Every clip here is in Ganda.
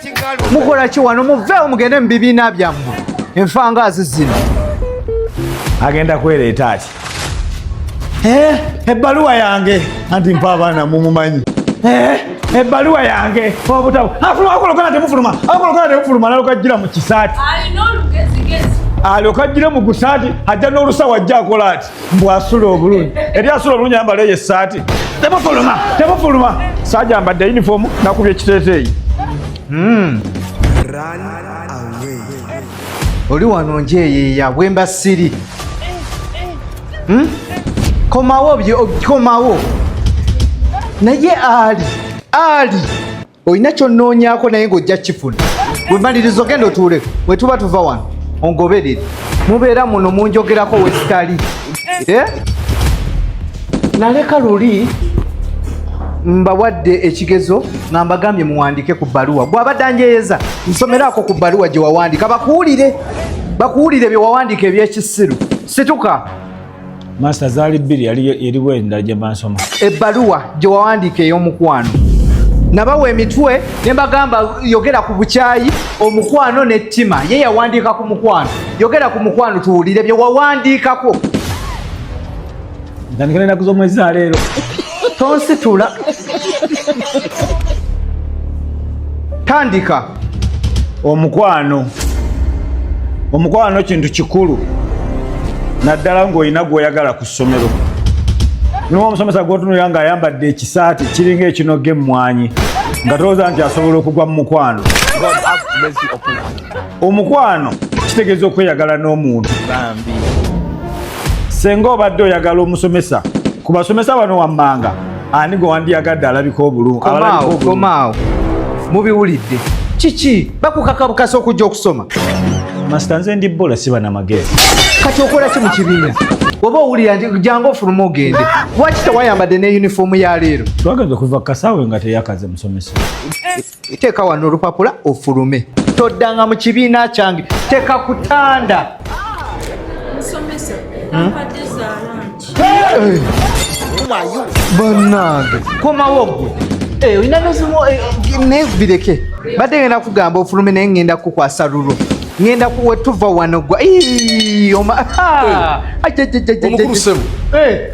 Kikko. Mukola ki wano muveewo mugende mu bibiina byammwe enfangaazi zino. Agenda kwereeta ki? Eh, ebbaluwa yange anti mpa abaana mumumanyi. Eh, ebbaluwa yange obutabo afuluma akolokana temufuluma akolokana temufuluma alokajjira mu kisaati alokajjire mu gusaati ajja n'olusawo ajja akola ati mbu asula obulungi eri asula obulungi ayambala eyo essaati tebufuluma tebufuluma saaja mbadde yunifoomu nakubya ekiteeteeyi hmm. oli wano njeyeya bwemba siri hmm? komawo komawo naye ali ali olina kyonnoonyaako naye ng'ojja kifuna wemaliriza ogenda otuule bwe tuba tuva wano ongoberere mubeera muno munjogerako wesitali eh? naleka luli mbawadde ekigezo nga mbagambye muwandike ku bbaluwa gwabadde anjeyeza nsomeraako ku bbaluwa gye wawandika bakuwulire bakuwulire bye wawandiika ebyekisiru situka Master zali bbiri yali yali wenda gye mansoma. Ebbaluwa gye wawandiika ey'omukwano nabawa emitwe ne mbagamba yogera ku bukyayi omukwano n'ettima ye yawandiika ku mukwano yogera ku mukwano tuwulire bye wawandiikako ntandikira enaku z'omwezi za leero tonsitula tandika omukwano omukwano kintu kikulu naddala ng'olina gw'oyagala ku ssomero niwo omusomesa gwotunulira ng'ayambadde ekisaati kiringa ekinoga emmwanyi nga tolowooza nti asobola okugwa mu mukwano omukwano kitegeeza okweyagala n'omuntu senga obadde oyagala omusomesa ku basomesa bano wammanga ani gwe wandiyagadde alabika obulungikomaawo mubiwulidde kiki bakukakabukasa okujja okusoma masita nze ndi bola siba na magezi kati okola ki mu kibiina oba owulira nti jangu ofuluma ogende lwaki tewayambadde ne yunifoomu ya leero twagenda okuva ku kasaawe nga teyakaze musomesa Teeka wano olupapula ofulume. Toddanga mu kibiina kyange. Teeka ku ttanda. Musomesa, kampadde hmm? zaalaanti. Bannange, komawo ggwe. Eh, olina n'ezimu eh, naye bireke. Badde ngenda kugamba ofulume naye ngenda kukwasa lulo. Ngenda kuwetuva wano gwa. Ii, oma. Haa. Ajajajajajajaj. Omukulusemu. Eh.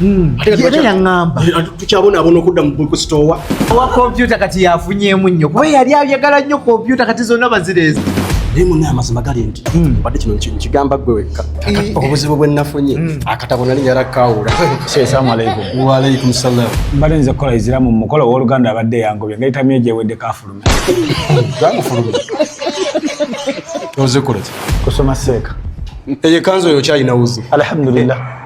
Hmm. era yaŋamba eh, tukyabonaabona okudda mu bookstore owa kompyuta kati yafunyemu nnyo kuba yali ayagala nnyo kompyuta kati zonna bazireeza naye muna amazima gali nti hmm. badde kino nkigamba gwe wekka eh. obuzibu bwe nafunye hmm. akatabo nali yala kawula salamualaikum waalaikum salam mbadde nze kukola iziramu mumukolo owoluganda abadde yangobye nga itamye gyewedde kafulume gamufulume ozikola ki kusoma seeka eyo ekanzu oyo kyalina wuzi alhamdulillah